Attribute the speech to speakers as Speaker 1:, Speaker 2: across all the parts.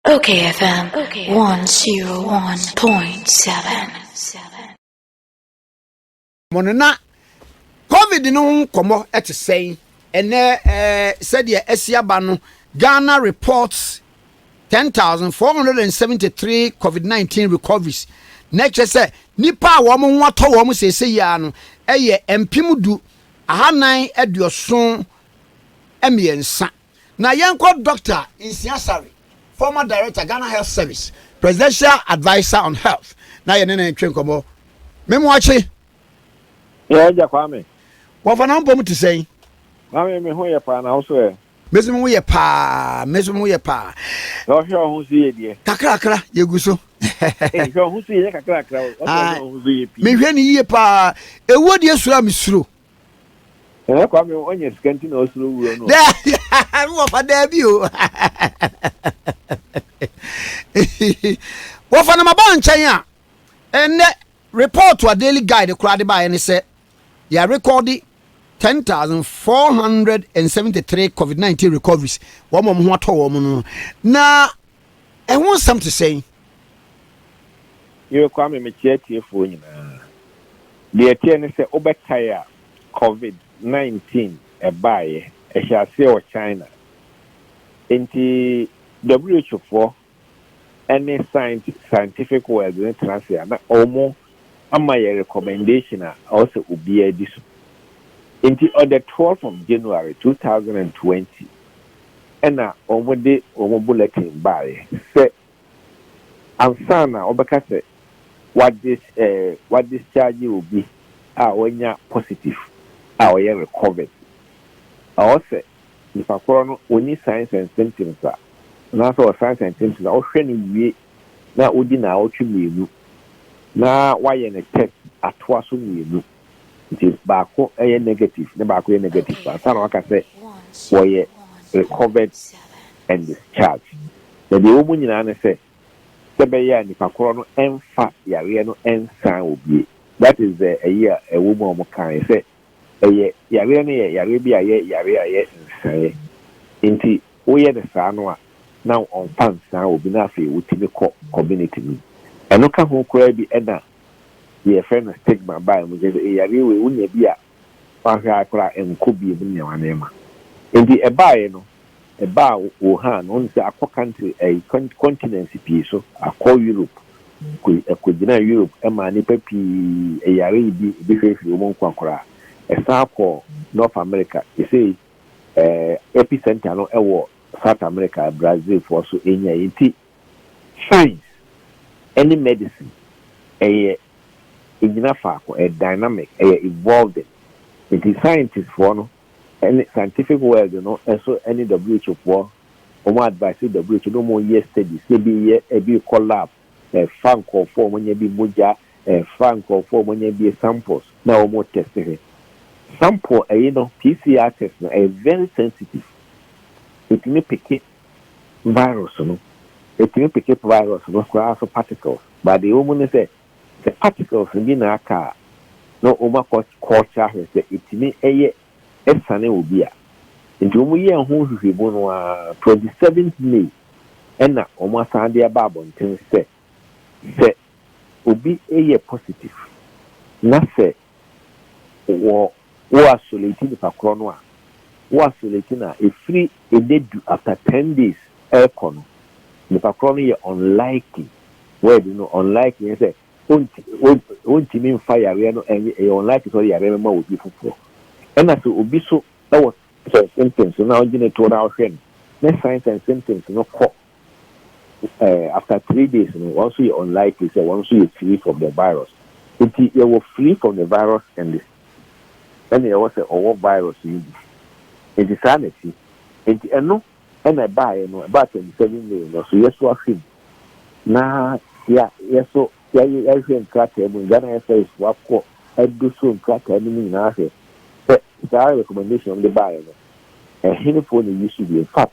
Speaker 1: Okay,
Speaker 2: FM 101.7. mo no na covid no ho nkɔmmɔ te sɛn ɛnɛ ɛɛ sɛdeɛ ɛsi aba no ghana reports 10473 covid-19 recoveries na ɛkyerɛ sɛ nipa a wɔn ho atɔ wɔn sɛsɛ yia no ɛyɛ mpem du ahanan aduoson mmiɛnsa Na yɛnkɔ Doctor Nsia Sarri, former director, Ghana Health Service, Presidential Adviser on Health, na yɛne no ntwe nkɔmmɔ. Me Moakye.
Speaker 3: Yɛɛ Agya Kwame. Wɔfa na wo mpɔ
Speaker 2: mu te sɛn? Kwame, me ho
Speaker 3: yɛ paa, na wo so ɛ? Me so me ho yɛ paa,
Speaker 2: me so me ho yɛ paa. Na
Speaker 3: ɔhwɛ wo ho so yie deɛ? Kakrakra, yɛgu so.
Speaker 2: Ei, hwɛ wo ho
Speaker 3: so yie, nyɛ kakrakra o, ɔsɛ ɔhwɛ wo ho so yie pii. Mehwɛ no yie paa,
Speaker 2: ɛwuo deɛ suro a mesuro.
Speaker 3: Ɛnɛ Kwame ɔnyɛ sika nti na ɔsoro wura no. Daabi wɔfa
Speaker 2: daabi o. Wɔfa no ma ba nkyɛn a ɛnɛ report a daily guide koraa de baeɛ ne sɛ yɛarekɔde 10473 covid-19 recoveries wɔn a wɔn ho atɔ wɔn no na Ɛho nsɛm te sɛn? Yere
Speaker 3: Kwame, mekyea atiefoɔ nyinaa. Deɛ ɛteɛ ne sɛ wobɛkae a Covid 19 baeɛ, ɛhyɛɛ aseɛ wɔ China. Enti WHO foɔ ne Science Scientific World no tena ase a na wɔn ama yɛn recommendation a ɛwɔ sɛ obiara di so. Enti on the 12 of January 2020, na wɔde wɔn bulletin baeɛ sɛ ansa na wɔbɛka sɛ wɔadis eh, wɔadischarge obi a wanya positive a ɔyɛ recovered. Ɛwɔ sɛ nipa korɔ no ɔnni signs and symptoms a, anaasɛ ɔwɔ signs and symptoms a, wohwɛ no wie na wodi nnawɔtwe mmienu na woayɛ no test atoa so mmienu. Nti baako yɛ negative na baako yɛ negative paa saa na waka sɛ wɔyɛ recovered and discharged. Na deɛ ɛwɔ mu nyinaa ne sɛ sɛ ɛbɛyɛ a nipa korɔ no ɛmfa yareɛ no ɛnsan wɔ bie. That is the ɛyi a ɛwɔ mu a wɔn kaeɛ sɛ ɛyɛ yareɛ no yɛ yareɛ bi a ɛyɛ yareɛ a ɛyɛ nsaeɛ nti woyɛ no saa no a na wɔmfa nsan wɔ bi na afei wotumi kɔ community no mu. Ɛno ka ho koraa bi ɛna deɛ yɛfrɛ no stigma bae mu, kyerɛ sɛ yareɛ wei wonya bi a woanhwɛ a koraa ɛnkɔ bio mu ne nneɛma nneɛma. Nti ɛbaeɛ no, ɛbaa Wuhan, wonim sɛ akɔ country ɛyi continents pii so, akɔ Europe, ɛkɔgyinaa Europe ɛmaa nnipa pii yare yi bi, ebi hwee firi wɔn nkwa koraa. Ɛsan kɔɔ North America, sesei ɛɛ epicentre no ɛwɔ South America, Brazilfoɔ nso ɛnyae. Nti Science ne medicine yɛ ɛnyina faako, ɛyɛ dynamic, ɛyɛ evolving. Nti scientist foɔ no ne scientific world no nso ne who foɔ wɔn advice who na wɔn yɛ studies na ɛbi yɛ ɛbi rekɔ lab ɛfa nkorɔfoɔ a wɔn anya bi mogya ɛfa nkorɔfoɔ a wɔn anya bi samples na wɔn retest hwɛ sample ɛyi no PCR test no ɛyɛ very sensitive ɛtumi peke virus no. Etumi peke virus no koraa so particles. But deɛ ɛwɔ mu ne sɛ, sɛ particles no bi na aka a, na wɔn akɔ culture ahwɛ sɛ ɛtumi yɛ ɛsane obi a. Nti wɔn yɛɛ ho nhwehwɛmu no ara, twenty seventh May ɛna wɔn asan de aba abɔnten sɛ, sɛ obi yɛ positive na sɛ wɔ wo isolate nipa korɔ no a, wo isolate no a, ɛfiri ɛnɛ du after ten days ɛrekɔ no, nipa korɔ no yɛ unlikely, word no unlikely ne sɛ ɔntumi mfa yareɛ no, ɛyɛ unlikely sɛ ɔde yareɛ no bɛma obi foforɔ. Ɛna sɛ obi so wɔ signs and symptoms no na wogye no toɔ na wohwɛ no, na signs and symptoms no kɔ after three days no wɔn nso yɛ unlikely sɛ wɔn nso yɛ free from the virus nti yɛwɔ free from the virus and ɛna yɛwɔ sɛ ɔwɔ virus no bi nti saa na ɛsi nti ɛno ɛna ɛbaeɛ no ɛbaa twenty seven may no so yɛso ahwɛ mu na yɛ yɛso yɛayɛ yɛahwɛ nkrataa mu Ghana FIS fo akɔ ɛdo so nkrataa no mu nyinaa hwɛ sɛ saa recommendation de baeɛ no ɛhenefoɔ na ɛyi so bi in fact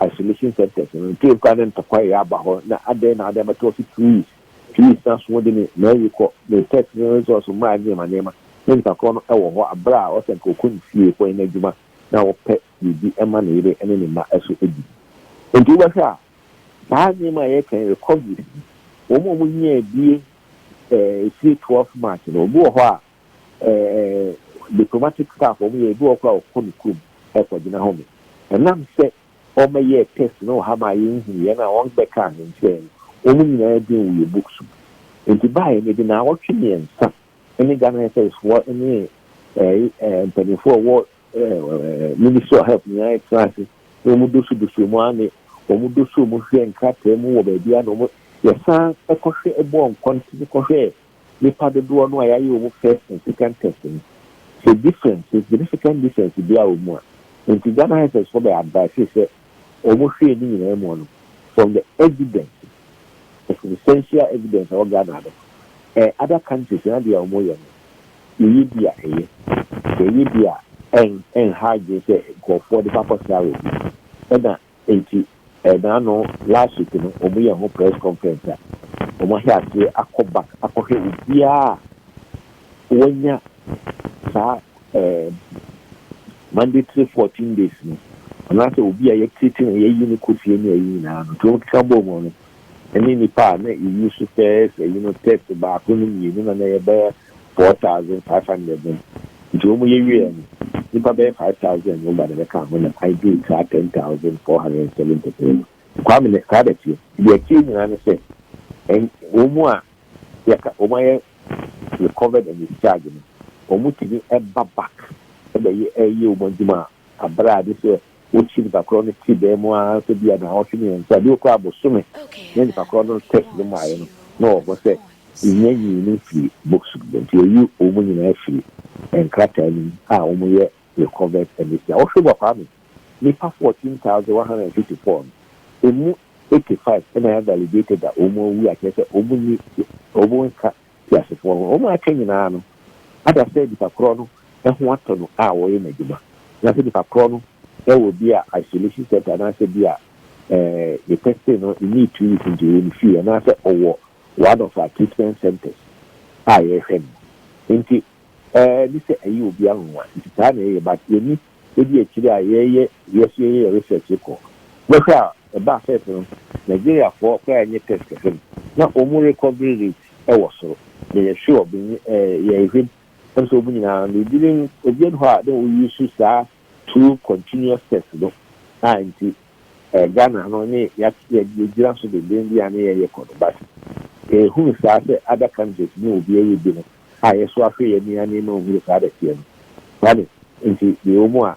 Speaker 3: isolation centres no ntie nkwa ne ntɔkwa a ɛyɛ aba hɔ na adɛn na ade abɛtɔ ɔse please please na so wode me Mary kɔ me pet ne resource mmaa nneɛma nneɛma ne ntakoro no wɔ hɔ a berɛ a ɔsɛ nka ɔkɔ ne fie kɔyɛ n'adwuma na ɔpɛ biribi ma ne yere ne ne mma so di nti wobɛhwɛ a saa nneɛma a yɛkan recoveries wɔn a wɔnyaa bie ɛɛ esie 12 march no obi wɔ hɔ a eh, diplomatic staff wɔn yɛ ebi wɔ koraa ɔkɔ ne kurom ɛkɔgyina home ɛnam sɛ wɔmɛyɛɛ test na ɔha maa yɛnhunu yɛn a wɔn bɛka ahenkyerɛ no wɔn nyinaa din wɔ yɛ books mu nti baayɛ no de na awɔtwe mmiɛnsa ɛne Ghana SIS foɔ ɛne eh, eh, mpanimfoɔ ɛwɔ eh, Ministry of Health nyinaa ɛtena ase na wɔn doso doso mu ara ne wɔn doso mu hwɛ nkrataa mu wɔ baabi a na wɔn yɛsan ɛkɔhwɛ ɛbɔɔ nkɔntene kɔhwɛ nipa dodoɔ no a yɛayɛ wɔn first and second test no, sɛ difference, significant difference biara wɔ mu a, nti Ghana Health foɔ bɛ advice sɛ wɔn hwɛɛ ne nyinaa mu no, from the evidence, the substantial evidence a ɛwɔ Ghana no, ɛɛ other countries no adeɛ a wɔn yɛ no, yɛyɛ bi a ɛyɛ, yɛyɛ bi a ɛn ɛnha adwene sɛ nkorɔfoɔ de kɔ akɔ sra wɔ bi, ɛna. Enti ɛnaano last week no wɔn yɛ ho press conference a wɔn ahyɛ aseɛ akɔ back akɔhwɛ obiara a wanya saa ɛɛm mandatory fourteen days no anaasɛ obi a yɛtiriti no yɛyi no kɔ fie ne ɛyi nyinaa no nti wɔn keka bɔɔ mu no ɛne nipa a na EU so first ɛyi no test baako no mmienu na na yɛbɛyɛ four thousand five hundred no, nti wɔn yɛ wieɛ no, nipa bɛyɛ five thousand no ba na bɛ kaa ho na I do saa ten thousand four hundred and seventy three no. Kwame na saa bɛ teɛ. Deɛ ɛteɛ nyinaa ne sɛ, ɛn, wɔn a yɛka, wɔn ayɛ recovered and discharged no, wɔn tumi ɛba back ɛbɛ yɛ, ɛyɛ wɔn adwuma a, abere a ɛde sɛ Wokyi nipa korɔ no ti dan mu ara sɛ bia naawɔtwe mmiɛnsa bio koraa bosome na nipa korɔ no test no maeɛ no na wɔbɔ sɛ nnya nyii no mfiri box no mu nti yɛyi wɔn nyinaa firi nkrataa no mu a wɔn yɛ recovered Amisia Wohwɛ Obua Kwame nipa fourteen thousand one hundred and fifty four no ɛmu eighty five na yɛ validated a wɔn awu a kyerɛ sɛ wɔn nni wɔn nka teasefoɔ no, wɔn a aka nyinaa no ada sɛ nipa korɔ no ho atɔ no a ɔreyɛ n'adwuma, anaasɛ nipa korɔ no wɔ bi a isolation center anaasɛ bi a yɛ testing no nnii two weeks nti ɔyɛ ne fie, anaasɛ ɔwɔ one of our treatment centers a yɛrehwɛ no mu. Nti ɛɛ ne sɛ ɛyɛ obiara nwanwa, nti saa na ɛyɛ but yɛnni. Edi akyiri a yɛreyɛ wiase yi yɛ research rekɔ, bɛhwɛ a ɛbaa sɛ ɛsono Nigeriafoɔ koraa a ɛnyɛ test kɛse no, na wɔn recovery rate wɔ soro. Meyɛ sure benye eh, yɛrehwɛm, ɛm sɛ wɔn nyinaa no ebi nom, obiara nni hɔ a na ɔ use saa two continuous test no a nti eh, Ghana no ne yɛat yɛgyina so denden bi a ne yɛreyɛ kɔ no, but yɛhunu saa sɛ other countries ne obiara redi no. a yɛso afrɛ yɛn ani anee ma ohuu saa dɛteɛ no. Saa ne nti deɛ ɛwɔ mu a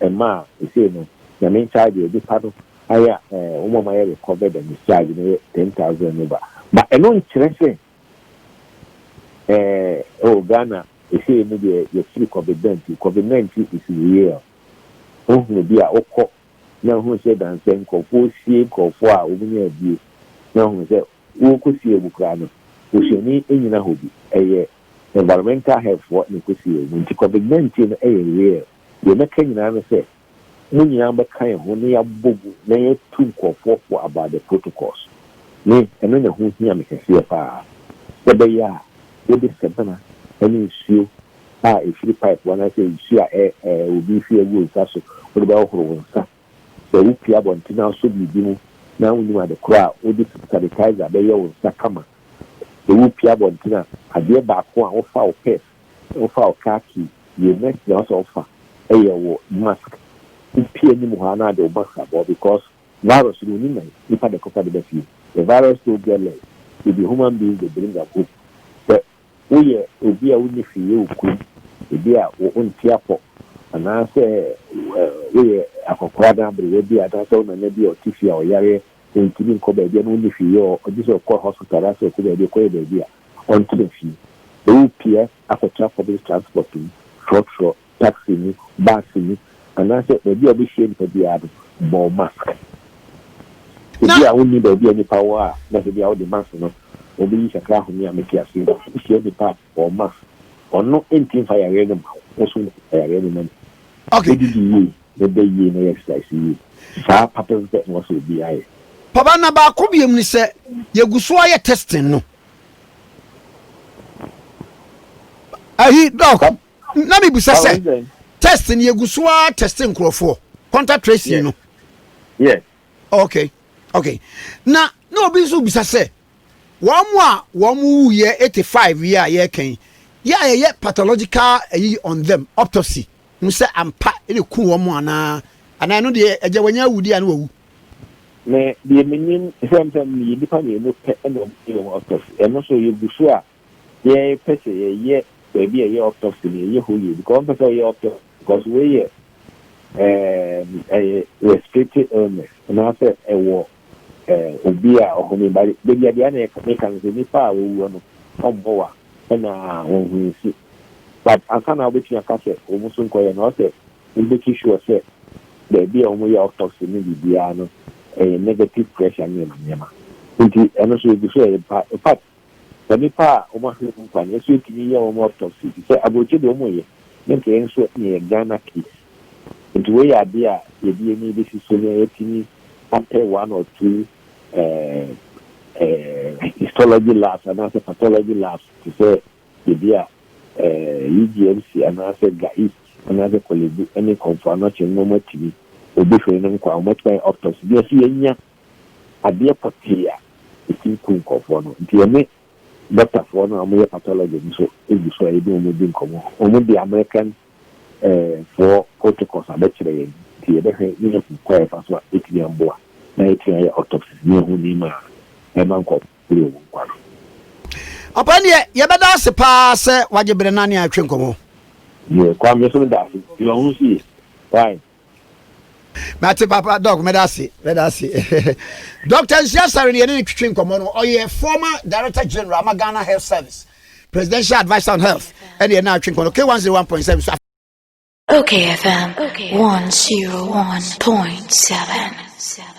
Speaker 3: ɛma a sesei no Nyame nkyagye ade pa no ayɛ a eh, wɔn a wɔayɛ rekɔvɛ dɛ ne kyagye no yɛ ten thousand and over. Ba ɛno nkyerɛ sɛ eh, oh Ghana sesei no deɛ yɛfiri covid nineteen, covid nineteen is real. Wohunu bi a wokɔ na hunu sɛ dansɛ nkorɔfoɔ sie nkorɔfoɔ a wɔn nya abue na hunu sɛ Wɔkɔsiee mu koraa no, osuani nnyina hɔ bi. Ɛyɛ environmental health foɔ na ɛkɔsiee mu. Nti covid 19 no yɛ real. Deɛ mɛka nyinaa ne sɛ, mo nyinaa mobɛka yɛn ho na yɛabɔ mu na yɛatu nkorɔfoɔ fo about the protocols. Me, ɛno na ɛho hia me kɛseɛ paa. Sɛ ɛbɛyɛ a wode sabina ne nsuo a ɛfiri pipe anaasɛ nsuo a obi fi agu wo nsa so wode bɛhohoro wo nsa. Sɛ wupue abɔnten asɔ biribi mu na wunnim ade koro a wode sanitizer bɛyɛ wo nsa kama. Sɛ wupue abɔnten a, adeɛ baako a wofa wo purse, wofa wo car key, deɛ next na ɛwɔ sɛ wofa yɛ wo mask. Wopie anim hɔ a na ade wo mask abɔ because virus no onni nan, nipa na ɛkɔfa de ba fie. The virus don't get legs, it be human beings they bring am home. Sɛ Woyɛ obi a wonni hwee yɛ wo kurom, ebia wonte apɔ, anaasɛ woyɛ akwakoraa anaa aberewa bi, anaasɛ wo nana bi a ɔte fie a ɔyare a ontumi nkɔ baabi a na wonni hwee yɛ, gye sɛ ɔkɔ hospital anaasɛ ɔkɔ baabi ɔkɔyɛ baabi a ɔntena fie. Sɛ worepia akɔtra public transport mu, trɔtrɔ taxi mu, bus mu, anaasɛ baabi a wobɛhyia nnipa biara no, bɔ wo mask. Ebi a wonni baabi a nnipa wɔ a na sɛ bi a wode mask no wobɛyi kakra ahome a mete aseɛ no, wohyia nnipa a, bɔ wo mask. Ɔno nti mfa yareɛ no mma wo, wo nso mfa yareɛ no mma nipa no. Didi
Speaker 2: yie, na
Speaker 3: da yie, na yɛ exercise yie. Saa papɛpɛpɛ na ɛwɔ sɛ obiara yɛ. Papa, na baako
Speaker 2: biom ne sɛ, yɛgu so ayɛ testing no. Ayi, Doc. na mi bisa sɛ test ni egu so a test nkorɔfoɔ contact tracing no. yes.
Speaker 3: okay
Speaker 2: okay na na obi nso bisa sɛ wɔn mu a wɔn mu wu yɛ eighty five yi a yɛrekɛn yɛ a yɛyɛ pathological ayi on them autopsy n sɛ ampa ɛna ku wɔn mu anaa anaa ɛno deɛ ɛgya wɔnyɛ awu deɛ ano wawu. na
Speaker 3: deɛ menim sɛmsɛm no yɛ nipa mmienu pɛ ɛna wɔn yɛ wɔn autopsy ɛno nso yɛgu so a Yɛn pɛ sɛ yɛ yɛ baabi a ɛyɛ autopsy no yɛ yɛ hɔ yie because wɔn pɛ sɛ ɔyɛ autopsy because wei yɛ ɛɛm ɛyɛ respiratory illness anaasɛ ɛwɔ ɛɛ obi a ɔhome ba de baabi adeɛ na yɛ ne ka no sɛ nipa a wɔwuo no wɔn bɔ wa ɛna wɔn ho nsi but ansa na wɔbɛtumi aka sɛ wɔn so nkɔyɛ no ɔsɛ wɔn bɛtu sure sɛ baabi a wɔn yɛ autopsy no biribiara no ɛyɛ negative pressure nneɛma nneɛma nti ɛno so egu so ɛyɛ part Sɛ nnipa a wɔn ahwɛ mu nkwa no, yɛso yɛtumi yɛ wɔn autopsy, efisɛ aburokyi deɛ wɔn yɛ, ne nkɛyɛ nso na ɛyɛ Ghana case. Nti wei yɛ adeɛ a yɛde yɛn ani bɛsi so na yɛatumi apɛ one or two eh, eh, histology labs anaasɛ pathology labs te sɛ ebi a eh, UGMC anaasɛ Ga East anaasɛ Korle Bu ne Komfo Anokye no na wɔatumi wɔbɛhwɛ no nkwa a wɔatumi ayɛ autopsy na yɛso yɛanya adeɛ pɔtee a ɛtumi ku nkurɔfoɔ no. Nti yɛne dɔktafoɔ no a wɔyɛ pathology no nso gu so a yɛne wɔn di nkɔmmɔ. Wɔde American foɔ protocols abɛkyerɛ yɛn, nti yɛbɛhwɛ na yɛahu kwan a yɛfa so a ɛbɛtumi aboa na yɛatumi ayɛ autopsies na yɛahu nneɛma a ɛma nkurɔfoɔ pere wɔn nkwa no. Papa
Speaker 2: ndeɛ yɛbɛda ase paa sɛ wagye berɛ na ne atwe nkɔmmɔ. Yɛ
Speaker 3: Kwame nso meda ase, deɛ ɔho nso ye, why
Speaker 2: Mate papa doc medase medase Doctor Nsia Sare ne yɛne ne twetwe nkɔmmɔ no ɔyɛ former director general ama Ghana Health Service presidential adviser on health ɛne yɛne atwe nkɔmmɔ no K101.7 so
Speaker 1: Okay FM 101.7